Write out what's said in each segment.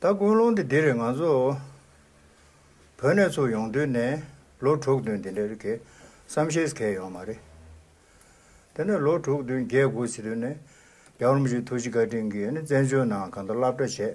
ད་ཀུན་སློང་དེ་འདིར་ང་ཚོ་བོད་ནས་ཚུར་ཡོང་དུས་ནས་ལོ་དྲུག་བདུན་དེ་འདྲ་རེད་གི་བསམ་ཤེས་གལ་ཡོང་མ་རེད། དེ་ནས་ལོ་དྲུག་བདུན་བརྒྱད་དགུ་ཕྱི་དུས་ནས་རྒྱ་རོམ་གཞུང་ཐུགས་རྗེ་བཀའ་དྲིན་གྱིས་བཙན་བྱོལ་ནང་གང་འདྲ་བསླབ་གྲྭ་བྱས།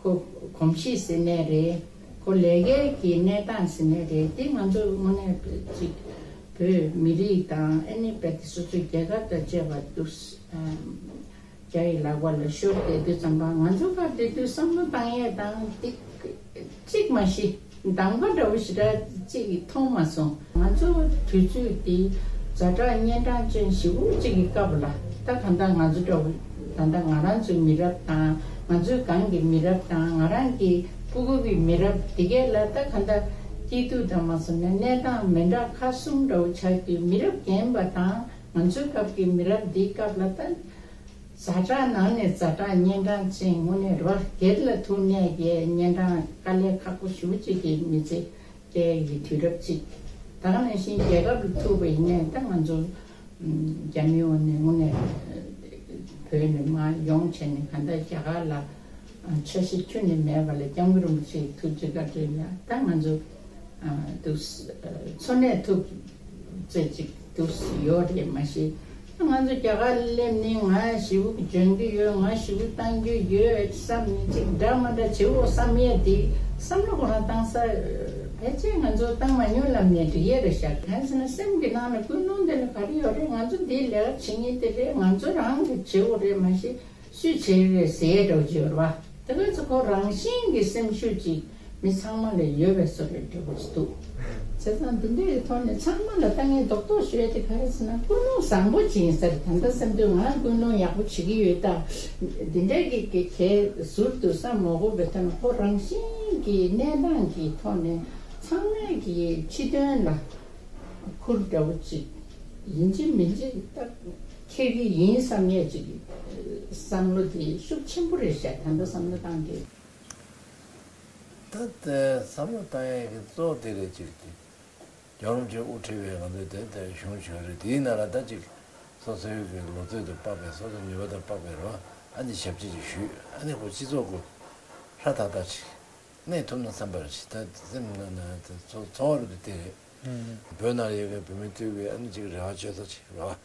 ཁོ་གོམས་གཤིས་ཟིན་ནས་རེད། ཁོ་ལས་སྐལ་གྱི་གནས་སྟངས་ཟིན་ནས་རེད། འདི་ང་ཚོས་དངོས་གནས་གཅིག་བོད་མི་རིགས་དང་ཨེ་ནི་བལ་ཏི་སོ་སོའི་རྒྱལ་ཁབ་དང་བཅས་པ་འདུག་རྒྱ་ཡི་ལག་པ་ལ་ཤོར་བསྡད་དུས་ཙམ་པ་ང་ཚོ་ཁ་བསྡུས་དུས་བསམ་བློ་བཏང་ཡས་དང་ཏིག་གཅིག་མ་ཤི། མདང་བ་འདྲ་བོ་ཞེ་དྲག་ཅིག་མཐོང་མ་སོང། ང་ཚོ་དུས་ཚོད་འདི་རྫ་དྲག་གཉན་འཕྲང་ཅན་བཞི་བོ་གཅིག་གི་སྐབས་ལ་ལྟ་གང་ལྟར་ང་ཚོ་འདྲ་བོ་ད་ལྟ་ང་རང་ཚོའི་མི་རབས་དང་ང་ཚོའི་སྒང་གི་མི་རབས་དང་ང་རང་གི་སྤུ་གུ་གི་མི་རབས་འདི་གས་ལ་ལྟ་གང་ལྟར་སྐྱིད་སྡུག་དང་མ་སོང་ན་གནས་སྟངས་མི་འདྲ་ཁ་གསུམ་འདྲ་བོ་ཆགས་རྒྱུའི་མི་རབས་རྒན་པ་དང་ང་ཚོའི་སྐབས་ཀྱི་མི་རབས་འདིའི་སྐབས་ལ་ལྟ། ཟ་གྲངས་ནང་ནས་བཟའ་གྲངས་གཉན་འཕྲང་ཅན་དངོས་གནས་རོ་སྒེར་ལ་ཐུག་གནས་ཀྱི་གཉན་འཕྲང་དཀའ་ལས་ཁག་པོ་ཞུ་བྱེད་ཀྱི་མི་ཚེ་སྐྱེལ་གྱི་དུས་རབས་ཅིག་དང་ནང་བཞིན་རྒྱལ་ཁབ་ལ་ཐུག་པའི་གཉན་འཕྲང་ང་ཚོ་རྒྱ་མི་ཡོངས་ནས་དངོས་གནས་བོད་ནས་མ་ཡོང་བྱས་ནས་གང་ལྟར་རྒྱ་གར་ལ་ཆ་ཤས་ཁྱུ་ནས་མེད་པ་ལ་རྒྱ་མི་རིན་པོ་ཆེ་ཐུག་ཅི་དགར་བྲིས་ལ་ད་ང་ཚོ། འདུག། འཚོ་གནས་ཐུབ། ཚོད་ཅིག་འདུག་ཡོད་རེད་མ་ཤེས། ང་ཚོ་རྒྱ་གར་སླེབས་ནས་ང་ཞི་བུ་སྦྱོང་རྒྱུ་ཡོད་ང་ཞི་བུ་གཏང་རྒྱུ་ཡོད་བསམ་ནས་ཅིག་འདྲ་མ་འདྲ་བྱེད་འོང་བསམ་ཡས་དེ་བསམ་བློ་ཁོ་རང་བཏང་ས་ཕལ་ཆེར་ང་ཚོ་བཏང་མ་མྱོང་ལབ་ནས་འདྲི་ཡས་རེད་ཤག་ག་ཚོད་ན་སེམས་ཀྱི་ནང་ན་ཀུན་སློང་འདི་ལ་ག་རེ་ཡོད་རེད་ང་ཚོ་འདིའི་ལས་ཀ་བྱེད་ངེས་དེ་རེད་ང་ཚོ་རང་གི་བྱེད་འོང་རེད་མ་ཤེས། སུས་བྱས་པའི་ཟས་སྒྲོ་སྦྱོར་བ་དེ་ཁོ་ཚོ་ཁོ་རང་བཞིན་གྱི་སེམས་ཤུགས་ཀྱིས་མི་ཚང་མ་ལས་ཡོལ་བའི་སོ་རས་འབྲི་དགོས་ཀྱི་འདུག་བྱས་ཙང་དེ་འདྲའི་ཐོག་ནས་ཚང་མ་ལ་ལྟ་ངན་རྡོག་རྡོག་ཞུས་ཏེ་ག་རེ་བྱས་ན་ཀུན་སློང་བཟང་པོ་སྦྱིན་ཟེར་ད་ལྟ་སེམས་དོན་ང་རང་ཀུན་སློང་ཡག་པོ་བྱེད་ཀྱི་ཡོད་ད་འདི་འདྲ་གི་གི་གས་ཟུར་དུ་བསམ་མོ་གོ་བོད་དོན་ཁོ་རང་བཞིན་གྱི་གནས་སྟངས་ཀྱི་ཐོག་ནས་ཚང་མས་གི་ཕྱི་དོན་ལ་ཁུར་འདྲ་བོ་ཅིག་ཡིན་གྱི་མིན་གྱི་ལྟ། ཁྱེད་ཀྱིས་ཡིན་བསམ་ངེས་ཅིག། བསམ་བློ་དེ་ཤུགས་ཆེན་པོ་རེད་བཤད་ད་འདྲ་བསམ་བློ་བཏང་དེ། ད་ལྟའི་བསམ་བློ་བཏང་ཡས་ཀྱི་གཙོ་བོ་དེ་རེད་ཅིག། རྒྱ་རོམ་གྱི་དབུ་ཁྲིད་བས་ང་ཚོའི་དེབ་དེ་གཞུང་ཞོལ་རེད་དེའི་ནང་ལ་ད་ཅིག། སོ་སོའི་གི་ལོ་ཚོད་དུ་དཔག་པའི་སོ་སོའི་ནུས་པ་དང་དཔག་པའི་རོ་ཨ་ནི་ཞབས་ཕྱི་ཅིག་ཞུས་ཨ་ནི་ཁོ་སྤྱི་ཚོགས་ཀུ་ཧྲ་ཐག་ཐག་ཅིག། གནས་ཐུབ་ན་བསམ་པར་བྱེད་ད་སེམས་ན་ན་ཚོ་བ་རུ་དེ་རེད། བོད་ནང་ཡོད་ཀྱི་བོད་མི་དུས་ཀྱི་ཨ་ནི་ཅིག་རེ་བ་བཅོལ་ཚོ་ཅིག་རེ་བ།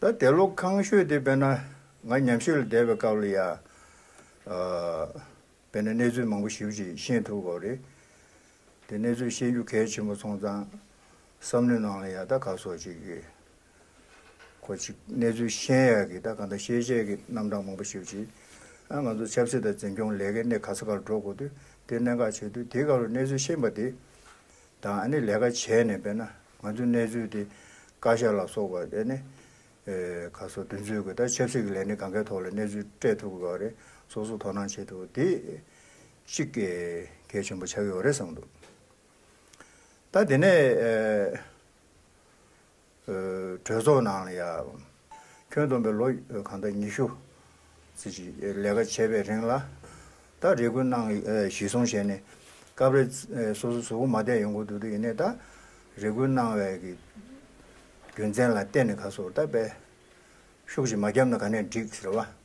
ད་དེ་ལོ་ཁང་ཤོས་དེ་བས་ན་ང་ཉམས་ཞིབ་ལ་བསྡད་པའི་སྐབས་ལ་ཡང་བས་ན་གནས་ཚུལ་མང་པོ་ཞིབ་ཅིང་ཤེས་ཐུབ་པ་རེད། དེ་གནས་ཚུལ་ཤེས་རྒྱུ་གལ་ཆེན་པོ་སོང་ཙང་བསམ་བློའི་ནང་ལ་ཡང་ད་ག་སོ་ཅིག་གི་གོ་ཅིག་གནས་ཚུལ་ཤེས་ཡག་གི་ད་གང་ད་ཤེས་བྱའི་གི་རྣམ་གྲངས་མང་པོ་ཞིབ་ཅིང་ཨ་ང་ཚོ་ཆབ་སྲིད་དང་འཛིན་སྐྱོང་ལས་ཀའི་གནས་ག་ས་ག་ལ་འགྲོ་དགོས་དུས་དེ་གནད་འགག་ཆེ་དུས་དེ་ག་ལ་གནས་ཚུལ་ཤེས་པ་དེ་དང་ཨ་ནི་ལས་ཀ་བྱས་ནས་དཔེར་ན་ང་ཚོའི་གནས་ཚུལ་དེ་བཀའ་ཤག་ལ་སོགས་པ་ཨ་ནི་ཁ་སོ་བདུན་ཚོད་ཀྱི་ད་ཆབ་སྲིད་ཀྱི་ལས་སྣེ་གང་གཱའི་ཐོག་ལ་གནས་ཚུལ་སྤྲད་ཐུབ་དགོས་པ་རེད་སོ་སོ་དོ་སྣང་བྱེད་ཐུབ་དེ་གཅིག་གལ་ཆེན་པོ་ཆགས་ཡོད་རེད་བསམ་འདུག་ད་དེ་ནས། གྲོས་ཚོགས་ནང་ལ་ཡང། ཁྱོན་བསྡོམས་པའི་ལོ་གང་དང་ཉི་ཤུ། ཟེར་གྱི་ལས་ཀ་བྱས་པའི་རིང་ལ། ད་རེ་སྐུ་གནང་གཞི་བཟུང་བྱས་ནས། སྐབས་རེ་སོ་སོ་ཟུག་མ་བསྡད་ཡོང་གི་འདུག་དེ་ཡིན་ནས་ད་རེ་སྐུ་གནང་བའི་གི་རྒྱུ་མཚན་ལ་བལྟས་ནས་ཁ་སོར་ད་དཔེ། ཤུགས་ཀྱིས་མ་བརྒྱབ་ན་ག་ནས་འགྲིག་ཟེར་བ།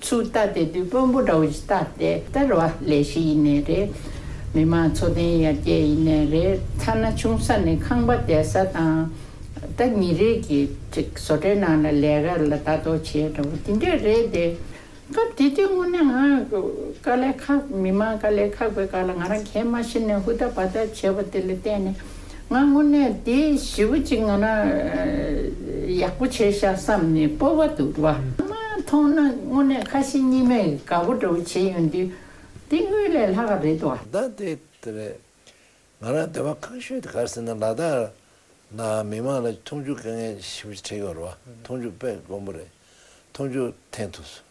ཚུལ་ལྟ་སྟེ་བདུད་དཔོན་པོ་དགྲ་བོ་ཞི་བདག་སྟེ་སྟེར་བ་ལས་བཞི་ཡིན་ནས་རེད། མི་མང་འཚོ་རྟེན་ཡར་རྒྱས་ཡིན་ནས་རེད་ཐ་ན་ཆུང་ས་ནས་ཁང་པ་དེད་ས་དང། ད་ཉིན་རེ་གི་བཟོ་གྲྭའི་ནང་ལ་ལས་ཀ་ལ་བལྟ་རྟོག་བྱེད་འདྲ་བོ་དེ་འདྲས་རེད་དེ། སྐབས་དེ་དུས་དངོས་གནས་ང་དཀའ་ལས་ཁག་མི་མང་དཀའ་ལས་ཁག་པའི་སྐབས་ལ་ང་རང་གས་མ་ཤི་ནས་ཧུར་ཐག་བར་ཐག་བྱས་པ་དེ་ལ་བརྟེན་ནས། ང་དངོས་གནས་འདི་ཞི་བ་ཅིག་ངོ་ན་ཡག་པོ་བྱས་ཤག་བསམ་ནས་སྤོ་བ་འདུག་བ་མཐོང་ན་དངོས་གནས་ཁ་ཞེ་གཉིས་མེད་དགའ་པོ་འདྲ་བོ་བྱས་ཡོང་དུས་འདི་དངུལ་ལས་ལྷག་ག་རེད་བ། ཟླ་འདི་དེ་རེད། ང་རང་སྡོད་པ་ཁང་ཤོད་དེ་གར་ཟིན་ན་ལ་དྭགས་ནང་མི་མང་ལ་མཐོང་ཆུང་དཀའ་ངལ་ཞི་བ་ཅིག་འཕྲད་ཡོང་རེད་བ་མཐོང་ཆུང་དཔེ་དཀོན་པོ་རེད་མཐོང་ཆུང་འཐེན་ཐུབ་སོང།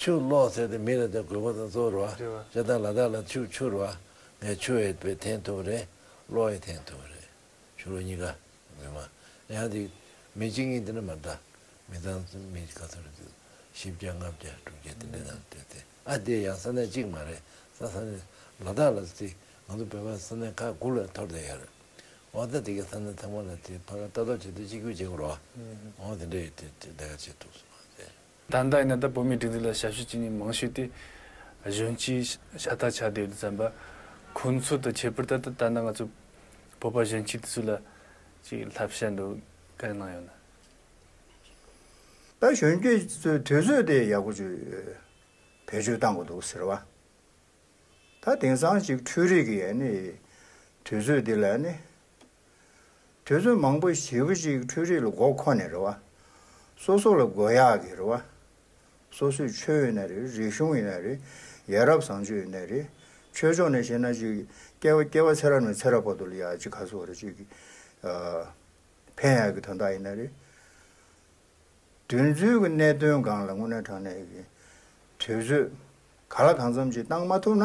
ཆུ་གློག་ཟེར་ཏེ་མི་ལ་དེ་དགོས་པ་དང་བཙོར་བ་ཅེས་དང་ལ་དྭགས་ལ་ཆུ་འཕྱུར་བ་ངས་ཆུ་ཡི་བོད་འཐེན་ཐུབ་པ་རེད་གློག་ཡི་འཐེན་ཐུབ་པ་རེད་ཞུ་རོ་གཉིས་ཀ་ངོ་མ་ཡང་དེ་མི་གཅིག་གཉིས་དེ་འདྲ་མ་འདྲ་མི་ཚང་མི་ག་ཚོད་རེད་དུ་བཞི་བརྒྱ་ལྔ་བརྒྱ་དྲུག་བརྒྱ་དེ་འདྲ་དང་འདྲ་སྟེ་ཨ་དེ་ཡང་ས་གནས་གཅིག་མ་རེད་ས་ས་ནས་ལ་དྭགས་ལ་དེ་ང་ཚོ་བོད་པ་ས་གནས་ཁག་དགུ་ལ་འཐོར་དེ་ཡོད་རེད་འོ་ད་དེ་གའི་ས་གནས་ཚང་མ་ལ་དེ་ཕ་ག་ལྟ་རྟོག་བྱེད་དུ་གཅིག་གྱུར་བྱེད་དགོས་རོ་འོ་དེ་འདྲ་ཡོད་དེ་དེ་འདྲ་ག་བྱེད་ཐུབ་སོང་ཨ་དེ། ད་ལྟ་ཡིན་ན་ད་བོད་མིའི་སྒྲིག་འཛུགས་ལ་ཞབས་ཞུ་བྱེད་མྱི་མང་ཤོས་དེ་གཞོན་སྐྱེས་ཤ་སྟག་ཆགས་བསྡད་ཡོད་དུ་བསམ་པ། ཁོ་ཚོ་དང་ཁྱད་པར་ད་ལྟ་ད་ནང་ང་ཚོ་བོད་པ་གཞོན་སྐྱེས་དེ་ཚོ་ལ་ཅིག་ལྷབ་བཤད་འདུག་ག་རེ་གནང་ཡོད་ན། ད་གཞོན་སྐྱེས་ཚོས་དུས་ཚོད་དེ་ཡག་པོ་བྱོས། བེད་སྤྱོད་བཏང་གི་འདུག་ཟེར་བ། ད་དེང་སང་ཅིག་འཕྲུལ་རིག་གི་ནི་དུས་ཚོད་དེ་ལ་ནི་དུས་ཚོད་མང་པོ་བྱིས་པ་ཞིག་འཕྲུལ་རིག་ལ་མགོ་འཁོར་ནས་རེ་བ། སོ་སོ་ལ་དགོས་ཡག་གི་རེ་བ། སོ་སོས་ཆོས་ཡོད་ན་རེ་རིག་གཞུང་ཡོད་ན་རེ་ཡ་རབས་བཟང་སྤྱོད་ཡོད་ན་རེ་ཆོས་ཕྱོགས་ནས་བཤད་ན་ཅིག་སྐྱེ་བ་སྐྱེ་བ་ཚེ་རབས་ནས་ཚེ་རབས་བར་དུ་ལ་ཡག་ཅིག་ཁ་སོ་རེ་ཅིག་ཕན་ཡག་གི་དོན་དག་ཡིན་ན་རེ། དུས་ཚོད་ཀྱི་གནད་དོན་སྒང་ལ་དངོས་གནས་དྲང་གནས་ཀྱི་དུས་ཚོད་ག་ལ་གང་འཚམ་ཅིག་བཏང་མ་ཐུབ་ན།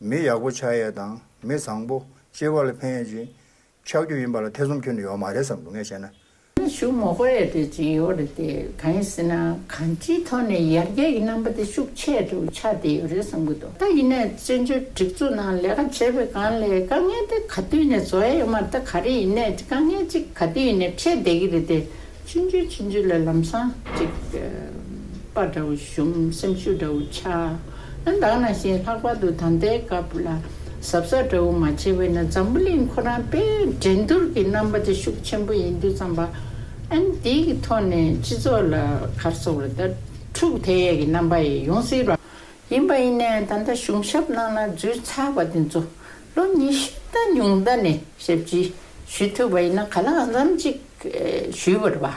མི་ཡག་པོ་ཆགས་ཡས་དང་མི་བཟང་པོ་སྐྱེས་པ་ལ་ཕན་ཡས་ཅིག་ཆགས་རྒྱུ་ཡིན་པ་ལ་ཐེ་ཚོམ་ཁྱོན་ནས་ཡོག་མ་རེད་བསམ་འདུག་ངས་བཤད་ན། ནས་ཞུ་མོ་གོ་ཡས་དེ་ཅིག་ཡོག་རེད་དེ་གང་ཡིན་ཟེར་ན་གང་ཅིའི་ཐོག་ནས་ཡར་རྒྱས་ཀྱི་རྣམ་པ་དེ་ཤུགས་ཆད་དུ་ཆགས་བསྡད་ཡོད་རེད་བསམ་གི་འདུག་ད་ཡིན་ནས་བཙན་བྱོལ་སྒྲིག་འཛུགས་ནང་ལས་ཀ་བྱས་པའི་སྒང་ལས་དཀའ་ངལ་དེ་ག་དུས་ནས་བཟོ་ཡས་ཡོག་མ་ད་ག་རེ་ཡིན་ནས་དཀའ་ངལ་ཅིག་ག་དུས་ནས་འཕྲད་བསྡད་ཀྱི་རེད་དེ་ཕྱིན་ཅི་ཕྱིན་ཅི་ལས་ལམ་སང། ཅིག། པ་འདྲ་བོ་བྱུང་སེམས་ཤུགས་འདྲ་བོ་ཆགས། ཨ་འདང་ན་བཞིན་ལྷག་པར་དུ་ད་ལྟའི་སྐབས་ལ་ཟབ་ས་འདྲ་བོ་མ་བྱས་བས་ན་འཛམ་བུ་གླིང་ཁོ་རང་པས་འགྲན་བསྡུར་གྱི་རྣམ་པ་དེ་ཤུགས་ཆེན་པོ་ཡིན་དུས་ཙམ་པ་ཨན་དེ་གི་ཐོག་ནས་སྤྱི་ཚོགས་ལ་གར་སོགས་ལ་ད་འཁྲུག་དེ་ཡས་ཀྱི་རྣམ་པ་ཡས་ཡོང་སྲིད་པ་ཡིན་པ་ཡིན་ནས་ད་ལྟ་གཞུང་ཞབས་ནང་ན་འཛུལ་ཚར་བ་དེ་ཚོ་ལོ་ཉི་ཤུ་ལྟ་ཉུང་ལྟ་ནས་ཞབས་ཕྱི་ཞུས་ཐུབ་པ་ཡིན་ན་ག་ལ་ཨང་ཙམ་གཅིག་ཞུས་པར་བ།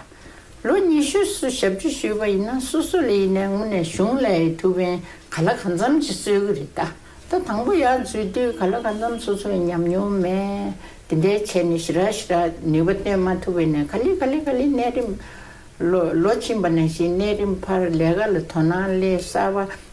ལོ་ཉི་ཤུ་སུ་ཞབས་ཕྱི་ཞུས་པ་ཡིན་ན་སུ་སུ་ལས་ཡིན་ནས་དངོས་ནས་གཞུང་ལས་ཐུགས་ཕན་ག་ལ་གང་འཚམ་ཅིག་སྩོལ་གི་རེད་ད་ལྟ་དང་པོ་ཡག་འཛུལ་དུས་ག་ལ་གང་འཚམ་སོ་སོའི་ཉམས་མྱོང་མེད་དེ་འདྲའི་བྱས་ནས་ཞི་ར་ཞི་ར་ནུས་པ་བཏོན་མ་ཐུབ་པས་ནས་ག་ལི་ག་ལི་ག་ལི་གནས་རིམ། ལོ་ལོ་ཕྱིན་པ་ནས་བཞིན་གནས་རིམ་བར་ལས་ཀ་ལ་དོ་སྣང་སླད་གསར་བ།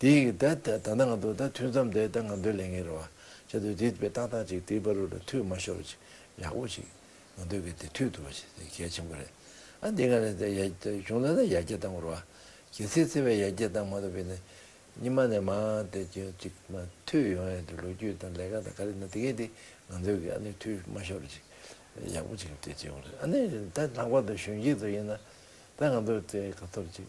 དེ་ཡིག་ད་ད་ད་ད་ང་དོ་ད་ཐུན་མཚམས་དེ་ད་ང་དོད་ལེ་ངེ་རེ་བ་ཅི་དོད་དེ་པེ་ཏག་ཏག་ཅིག་དེ་པ་རུ་ལ་ཐུད་མ་ཤོར་བ་ཅིག་ཡག་པོ་ཅིག་ང་དོད་གི་དེ་ཐུད་དུ་བ་ཅིག་དེ་གལ་ཆེན་པོ་རེད་ཨ་དེ་ང་རེ་ད་ཡ་གཞུང་ལ་ད་ཡ་རྒྱ་དང་བོར་བ་གལ་ཚེ་ཚེ་བས་ཡ་རྒྱ་དང་མ་ཐོབ་པའི་ནི་ཉི་མ་ནས་མ་དེ་ཅི་ཅིག་མ་ཐུད་ཡོང་ཡ་དེ་ལོ་རྒྱུས་དང་ལས་ཀ་དང་ག་རེ་ན་དེ་གས་དེ་ང་དོད་གི་ཨ་ནི་ཐུད་མ་ཤོར་བ་ཅིག་ཡག་པོ་ཅིག་དེ་ཅིག་ཨ་ནི་རེ་ད་ལྷག་པར་དུ་གཞོན་སྐྱེས་ཚོ་ཡིན་ན་ད་ང་དོད་དེ་ག་ཐོབ་ཅིག།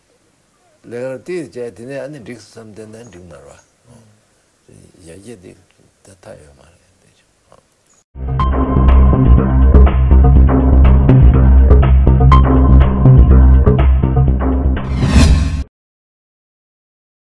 ལེགས་ར་ཏིས་བྱས་དེ་ནས་ཨ་ནི་འགྲིགས་སམ་དེ་ནས་འགྲིགས་མ་རོ། ཡར་རྒྱས་དེ་ད་ལྟ་ཡོད་མ་རེད།